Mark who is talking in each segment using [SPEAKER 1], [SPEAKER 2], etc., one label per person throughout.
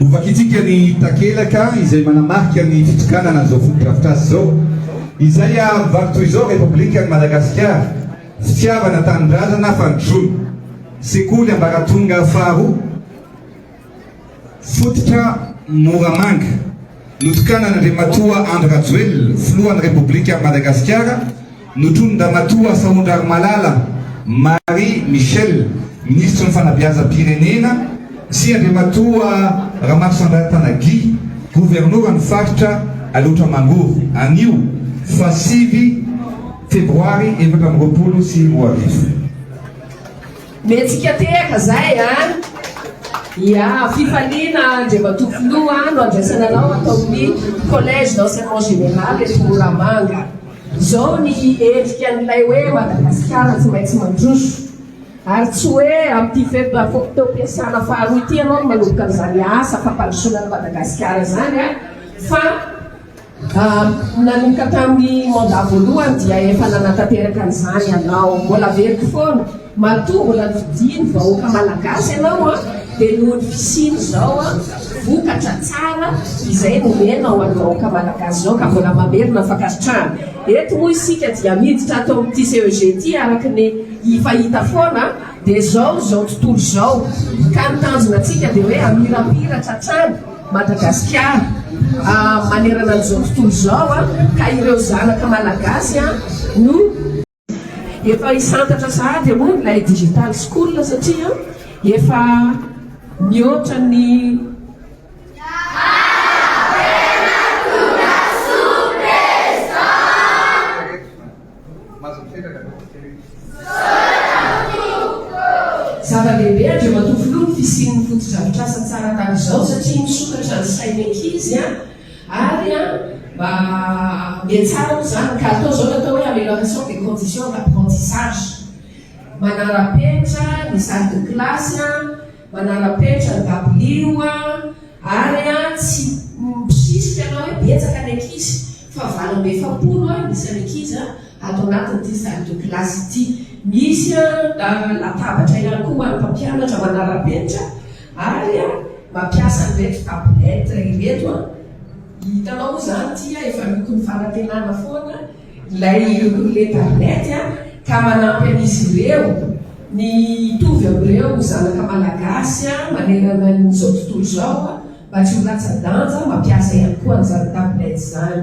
[SPEAKER 1] Hovakintsika ny takelaka izay manamarika ny fitokanana an'izao fotodrafitrasa izao, izay ary vaky toy izao, Repoblikan'i Madagasikara, fitiavana, tanindrazana, fandrosoana. Sekoly ambaratonga faharoa. Fototra Moramanga, notokanan'Andriamatoa Andry Rajoelina, Filohan'ny Repoblikan'i Madagasikara, notronin-dRamatoa Sahondrarimalala Marie Michelle, Minisitry ny Fanabeazam-pirenena, sy Andriamatoa Ramarosandrantana Guy, Governoran'ny Faritra Alaotra Mangoro, anio fa sivy Febroary efatra amby roapolo sy roa arivo.
[SPEAKER 2] Mihetsika tehaka izay an! Ia, fifaliana Andriamatoa Filoha no andraisana anao ato amin'ny Collège d'Enseignement Général eto Moramanga. Izao ny endrika an'ilay hoe Madagasikara tsy maintsy mandroso. Ary tsy hoe amin'ity fe-potoam-piasana faharoa ity ianao no manomboka an'izany asa fampandrosoana an'i Madagasikara izany an! Fa. Nanomboka tamin'ny mandat voalohany dia efa nanatanteraka an'izany ianao. Mbola averiko foana, matoa mbola nodian'ny vahoaka malagasy ianao an, dia noho ny fisian'izao an vokatra tsara izay nomenao an'ny vahoaka malagasy izao ka mbola mamerina fankasitrahana. Eto moa isika dia miditra ato amin'ity CEG ity araka ny hifahita foana an, dia izao izao tontolo izao ka ny tanjona antsika dia hoe hamirapiratra hatrany, Madagasikara manerana an'izao tontolo izao ka ireo zanaka malagasy no. Efa hisantatra sahady aloha ilay digital school satria efa mihoatra ny. Mahazo mipetraka aloha ny firenena. Zava-dehibe Andriamatoa Filoha ny fisian'ny fotodrafitrasa tsara tahak'izao satria misokatra ny sain'ny ankizy ary mba mihatsara moa izany ka atao izao ny atao hoe amélioration des conditions d'apprentissage, manara-penitra ny salle de classe. Manara-penitra ny dabilio a! ary a tsy mpisisika na hoe betsaka ny ankizy fa valo amby efapolo a ny isan'ny ankizy a ato anatin'ity salle de classe ity. Misy a latabatra ihany koa ho an'ny mpampianatra manara-penitra ary a mampiasa an'ireto tablette ireto a. Hitanao moa izany ity a efa lokon'ny fanantenana foana. Ilay roulette à lunettes a, ka manampy an'izy ireo ny hitovy amin'ireo zanaka malagasy manerana an'izao tontolo izao mba tsy ho latsa-danja mampiasa ihany koa an'izany tablette izany.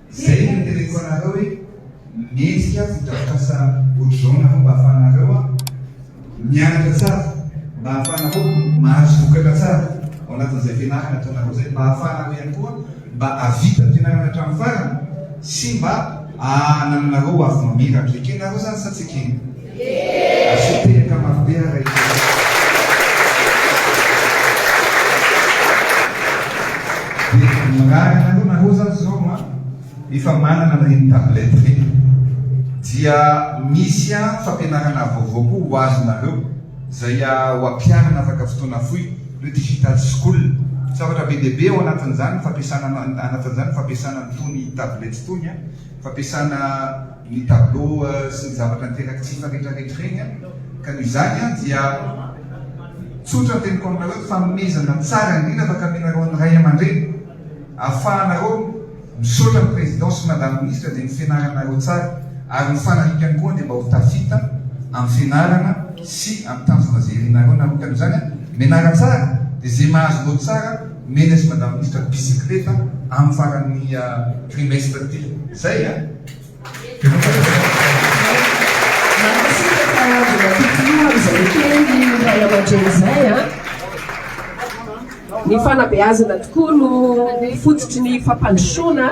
[SPEAKER 1] Zay no teneniko anareo hoe mendrika fotodrafitrasa otrzao nareo mba afahanareo mianatra tsara, mba ahafahanareo mahazo vokatra tsara ao anatin'izay fianarana ataonareo zay, mba ahafahanareo ihany koa mba ahavita ny fianarana hatramin'ny farany sy mba ahanananareo hoavy mamiratra. Ekenareo zany sa tsy ekena? Asio teraka mafy be ara i Jesosy. Dia mirary anareo nareo zany zao an, efa manana an'ireny tablette ireny, dia misy an fampianarana vaovao koa ho azonareo izay ho ampiharina afaka fotoana fohy, le digital school. Zavatra be dia be ao anatin'izany ny fampiasana anatin'izany ny fampiasana an'itony tablette itony an, fampiasana. ny tableau sy ny zavatra niteraka tsy hifaretraretra ireny an! ka noho izany an! dia tsotra ny teniko aminareo hoe fanomezana tsara indrindra fa kaminareo an'ny ray aman-dreny ahafahanareo misaotra ny président sy madame ministre dia ny fianaranareo tsara ary ny fanarikany koa dia mba ho tafita amin'ny fianarana sy amin'ny tanjona izay irinareo narotan' izany an! mianara tsara dia izay mahazo note tsara mena sy madame ministre bicyclette amin'ny faran'ny trimestre ity! zay an! Mankasitraka mbola totino
[SPEAKER 2] ary izay ekeny ny ray aman-dreny izay an! Ny fanabeazana tokoa no fototry ny fampandrosoana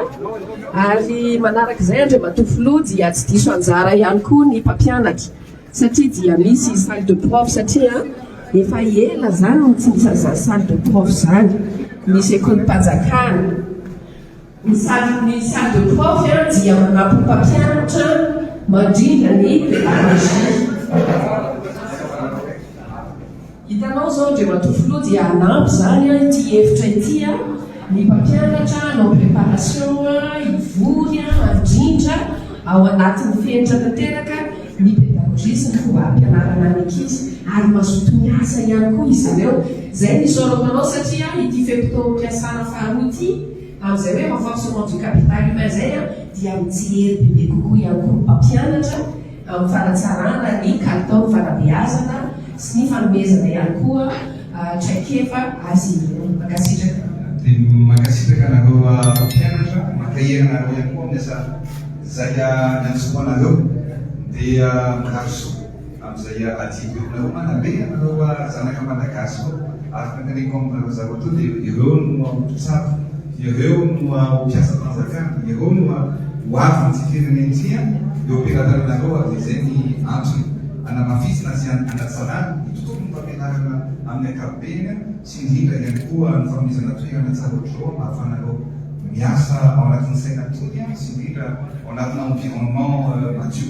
[SPEAKER 2] ary manaraka izay Andriamatoa Filoha dia tsy diso anjara ihany koa ny mpampianatra satria dia misy salle de prof satria efa ela izany no tsy nisy an'izany salle de prof izany, misy Ecolim-panjakana. Ny salle ny salle de prof a dia manampy ny mpampianatra mandrindra ny pédagogie. Hitanao izao Andriamatoa Filoha dia hanampy izany an ity hevitra ity an ny mpampianatra hanao préparation an hivory an handrindra ao anatin'ny fenitra tanteraka ny pédagogie sy ny fomba hampianarana ny ankizy ary mazoto miasa ihany koa izy ireo. Izay no isaorako anao satria ity fe-potoam-piasana faharoa ity Amin'izay hoe renforcement du capital humain izay dia mitsilery bebe kokoa ihany koa ny mpampianatra amin'ny fanatsarana ny kalitaon'ny fanabeazana sy ny fanomezana ihany koa traikefa azy ireo. Mankasitraka. Dia mankasitraka
[SPEAKER 1] anareo mpampianatra, mankahery anareo ihany koa amin'ny asa zaika niantsoanareo. Dia mirary soa. amzay adidy aminareo mana be anareo ah zanaka malagasy ô ary tantaniko aminareo zareo to de ireo no aho mpitsabo ireo no aho mpiasa panjakana ireo no aho ho avy ny ty firenena ty an eo ampelatananareo ary de zay ny antony anamafisina sy anatsarana ny tontolony fampianarana aminy ankapobeny an sy indrindra ihany koa ny fanomezana toerana tsara otrzao mba afahanareo miasa ao anatiny saina tony an sy indrindra ao anatina environnement madio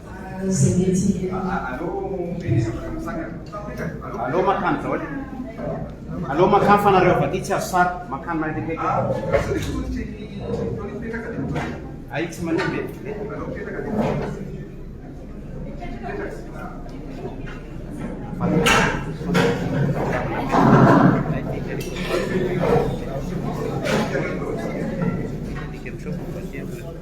[SPEAKER 3] Aleo mankany daholo e. Aleo mankany fa nareo avy aty tsy azo sary. Mankany mahery Ay tsy manimba e. Mipetraka.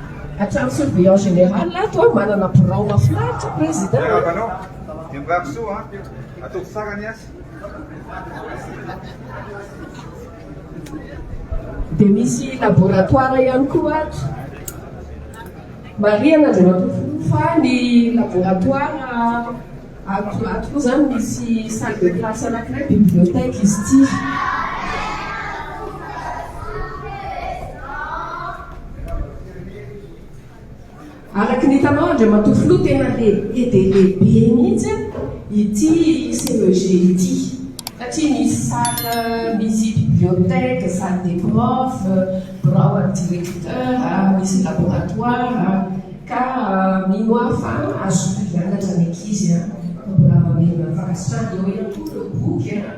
[SPEAKER 2] Hatrany surveillant général ato a, manana birao mafinaritra président a. Manao dia mirary
[SPEAKER 1] soa an! Ataovy tsara ny asa.
[SPEAKER 2] Dia misy laboratoire ihany koa ato. Marihana Andriamatoa Filoha fa ny laboratoire. Ato ato koa zany misy salle de classe anakiray bibliothèque izy ity. Araky ny hitanao Andriamatoa Filoha tena lehibe dia lehibe mihitsy ity CEG ity satria misy salle, misy bibliothèque, salle des profs, birao an'ny directeur, misy laboratoire. Ka mino aho fa azonao hianatra ny ankizy a! Ka mbola mamerina ny fankasitrahana eo ihany koa ireo boky a!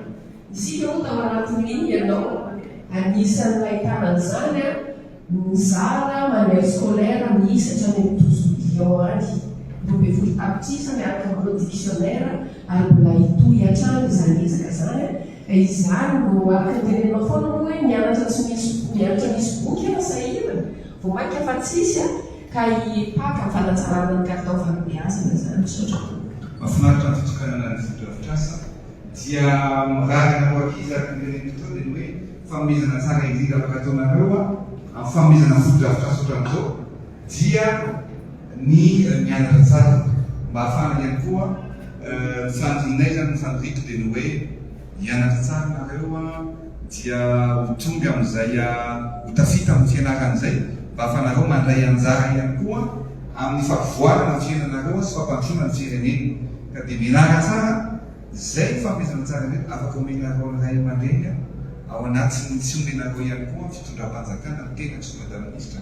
[SPEAKER 2] Isika moa tao anatin'iny ianao anisan'ny nahitana an'izany a! Nizara manuel scolaire miisa hatrany amin'ny douze millions any, roa ambin'ny folo tapitrisa miaraka amin'ireo dictionnaire ary mbola hitohy hatrany izany ezaka izany a! Ka izany no araka ny teneninao foana moa hoe mianatra tsy misy mianatra misy boky a! Sahirana. Vao mainka fa tsisy a! Ka hipaka fanatsarana ny
[SPEAKER 1] kalitao fanabeazana izany. Misaotra tompoko. Mafinaritra ny fitokanana ny fotodrafitrasa dia miraraka ho ankizy ary ny teneniko teo dia ny hoe fanomezana tsara indrindra afaka ataonareo amin'ny fanomezana fotodrafitrasa ohatran'izao dia ny mianatra tsara mba hahafahana ihany koa ny fandihinay izany ny faniriako dia ny hoe Hianatra tsara nareo a, dia ho tonga amin'izay ho tafita amin'ny fianarana izay, mba ahafahanareo mandray anjara ihany koa amin'ny fahavoarana ny fiainanareo sy fampandrosoana ny firenena. Ka dia mianara tsara, izay no fanomezana tsara indrindra afaka omenareo ny ray aman-dreny ao anatin'ny tsy omenareo ihany koa ny fitondram-panjakana, ny tena tsy ho Praiministra.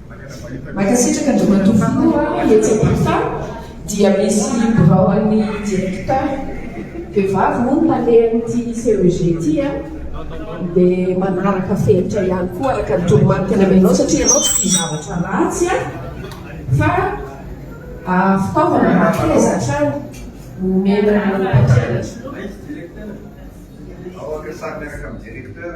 [SPEAKER 2] Mankasitraka Andriamatoa Filoha a, etsy am-pita dia misy birao an'ny Directeur, vehivavy moa no nalehan'ity CEG ity a, dia manaraka fenitra ihany koa araka ny toromarika namenao satria ianao tsy tia zavatra ratsy a, fa fitaovana mba akaiza hatrany no omena ny mpampianatra. Aiza Directeur? Aoka sary miaraka amin'ny
[SPEAKER 1] Directeur.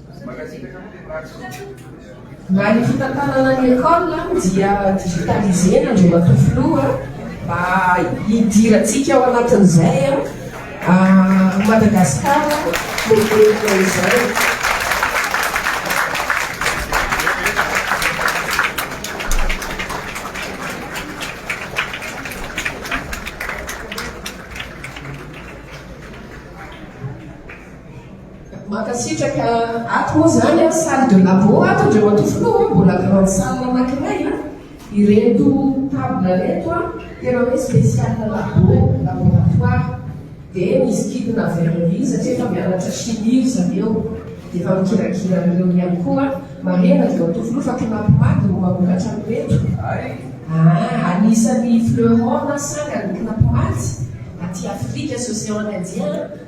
[SPEAKER 2] Raha ny fitantanana ny école dia digitaliser-na Andriamatoa Filoha mba hidirantsika ao anatin'izay Madagasikara moderina izay. Mankasitraka, ato moa izany an, salle de labo ato ndry matoa filoha an, mbola grande salle anankiray an, ireto table reto an, tena hoe special labo, laboratoire, dia misy kintona avy any India satria efa mianatra chimie ry zareo, dia efa mikirakira an'ireo ihany koa, marihana ndry matoa filoha fa Knapmag no mamokatra an'ireto, ah, anisan'ny fleuron na sangany Knapmag aty Afrika sy Océan Indien an,